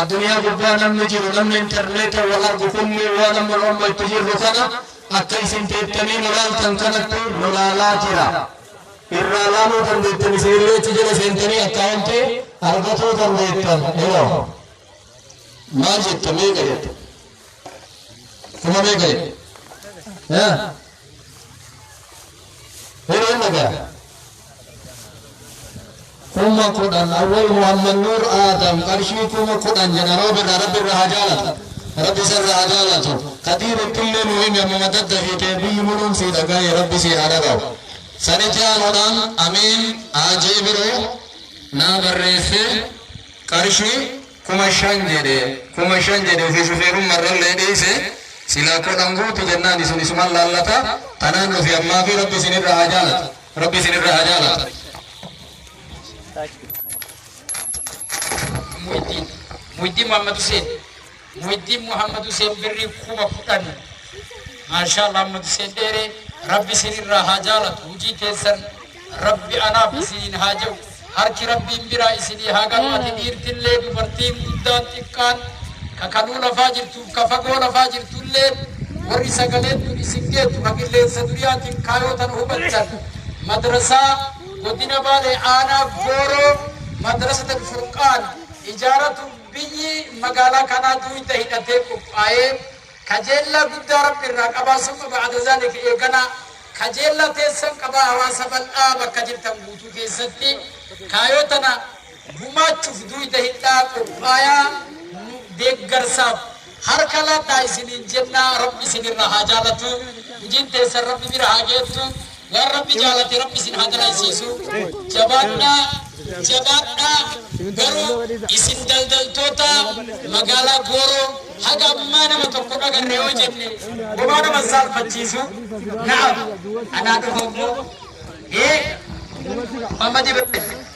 Addunyaa gubbaa namni jiru, namni interneetan wal argu kunniin waan amma nu amma itti jirru kana akka isin teettanii nu laaltan kanatti nu laalaa jira. Irraa laaluu dandeettan isinillee achi jala seentanii akkaawuntii argatuu dandeettan. Iloo. Maal jetta meeqa jetta? Kuma meeqa jetta? Yaa. Yeroo hin dhagaa. kuma kudhan awwal muhammad nuur aadam qarshii kuma kudhan jedha roobirra rabbi irra haa jaalatu rabbi isarra haa jaalatu kadiiritti illee nu himi ammuma daddafiitee biyyi muruun sii dhaga'ee rabbi sii haa dhaga'u sanitti aanuudhaan amiin haajii biroo naa barreesse qarshii kuma shan jedhe kuma shan jedhe ofii shufeerummaa irrallee dhiise silaa kudhan guutu jennaan isin isuman laallata tanaan nufi ammaa fi rabbi isinirra haa jaalatu Rabbi isin irraa haa jaalatu. Muhyiddin Muhyiddin Muhammad Hussein Muhyiddin Muhammad Hussein birrii kuma kudhan maashaa Allah Muhammad Hussein dheere rabbi isin irraa haa jaalatu hojii keessan rabbi anaaf isiniin haa ja'u Harki Rabbiin biraa isinii haa galu ati dhiirtillee dubartiin guddaan xiqqaan ka kaluu lafaa jirtuuf ka fagoo lafaa jirtulleen warri sagaleen tun isin geettu ka qilleensa duriyaatiin kaayoo tana hubattan madrasaa godina baalee aanaa gooroo madrasat alfurqaan ijaaratuuf biyyi magaalaa kanaa duuyda hidhatee qophaa'ee Kajeellaa guddaa Rabbi irraa qabaasuu qaba ba'da zaalika eeganaa kajeellaa teessan qabaa hawaasa bal'aa bakka jirtan guutuu keessatti kaayoo tana gumaachuuf duuyda hidhaa qophaayaa nu deeggarsaaf harka laadhaa isiniin jennaa Rabbi isin irraa haa jaalatuu hujiin teessan Rabbi bira haa geettu Waan rabbi jaalate rabbi isin haa dalansiisu. Jabaadhaa jabaadhaa garuu isin daldaltoota magaalaa Gooroo haga ammaa nama tokko dhagarre yoo jenne homaa nama saalfachiisu. Naaf anaa dhufa immoo ee Muhammad Ibrahim.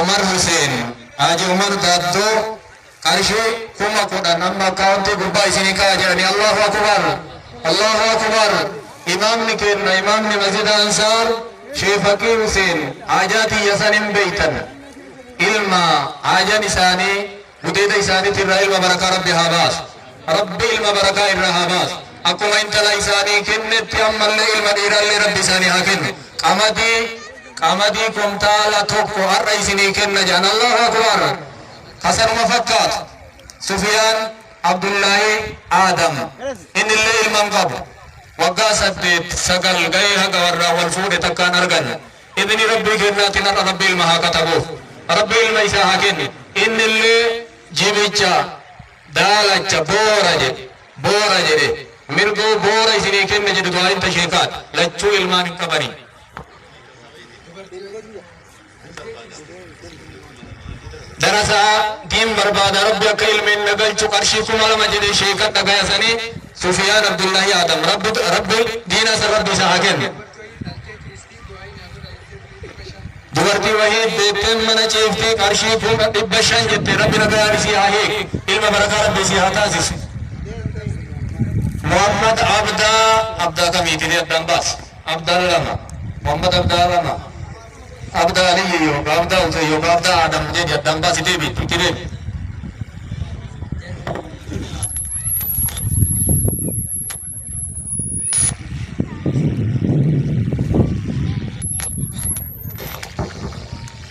Umar Huseen, Haaji Umar Daaddoo, qarshii kuma kudhan amma akkaawuntii gubbaa isinii kaa'a jedhanii Allahu Akubar, Allahu Akubar, imaamni keenna imaamni masjida Ansaar Shee Faqii Huseen haajaa tiyya san hin beeytan. Ilma haajan isaanii Gudeeda isaaniti irraa ilma barakaa Rabbi haa baasu. Rabbi ilma barakaa irraa haa baasu. Akkuma intala isaanii kennetti ammallee ilma dhiiraallee Rabbi isaanii haa kennu. Qamadii qamadii kumtaala tokko har'a isinii kenna jedhan Allahu akbar. Kasanuma fakkaatu. Sufiyaan Abdullaahi Aadam innillee ilma hin qabu. Waggaa saddeet sagal gahee haga warraa wal fuudhe takkaan arganne. Ibini Rabbii kennaatiin har'a Rabbi ilma haa katabuuf. Rabbi ilma isaa haa kenni. Innillee jibicha, daalacha, boora jedhe. Boora jedhe. Mirgoo boora isinii kenne jedhu du'aayin ta sheekaati. Lachuu ilmaan hin qabanii. darasaa diin barbaada rabbi akka ilmeen na galchu qarshii kuma lama jedhe sheeka dhagayasanii sufiyaan abdullahi adam rabbi rabbi diina san rabbi isa haa kennu dubartii wahii deettee mana ciiftee qarshii kuma dhibba shan jette rabbi nagaan isii haa hiiku ilma barakaa rabbi isii haa taasisu Muhammad Abdaa Abdaa kamiiti ni addaan baas Abdaa lama Muhammad Abdaa lama Abdaa Aliyyi yookaan Abdaa Usee yookaan Abdaa Adam jedhi addaan baas itee biitti itti deemi.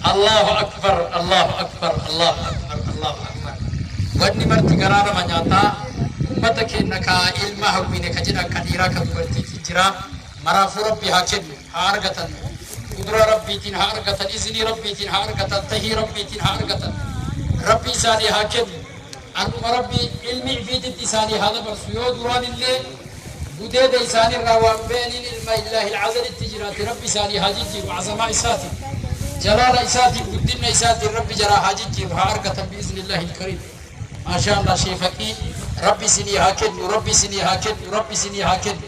Allahu akbar Allahu akbar Allahu akbar Allahu akbar wanni marti garaa nama nyaataa ummata keenya ka ilma hawwine ka jedhan ka dhiiraa ka dubartiitiin jira maraafuu rabbi haa kennu haa argatan qudura rabbiitiin haa argatan iznii rabbiitiin haa argatan tahii rabbiitiin haa argatan rabbi isaanii haa kennu Akkuma Rabbi ilmi ifiititti isaanii haa dabarsu yoo duraanillee gudeeda isaanirraa waan be'aniin ilma Illaahil Azalitti jiraate Rabbi isaanii haa jijjiiru Azamaa isaatiin Jalaala isaatiin guddinna isaatiin Rabbi jaraa haa jijjiiru haa argatan bi'iznillaahil kariim Maashaa Allah Sheekha kii Rabbi isinii haa kennu Rabbi isinii haa kennu Rabbi isinii haa kennu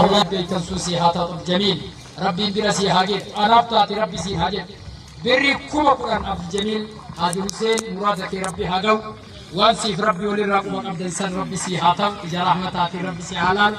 Allah beektan sun si haa taatu jamiil rabbiin bira si haa geessu anaaf taate rabbi si haa jedhu birri kuma kudhan abdi jamiil haji huseen muraada kee rabbi haa ga'u waan siif rabbi walirraa quba qabdan san rabbi si haa ta'u ija rahmataatiin rabbi si haa laalu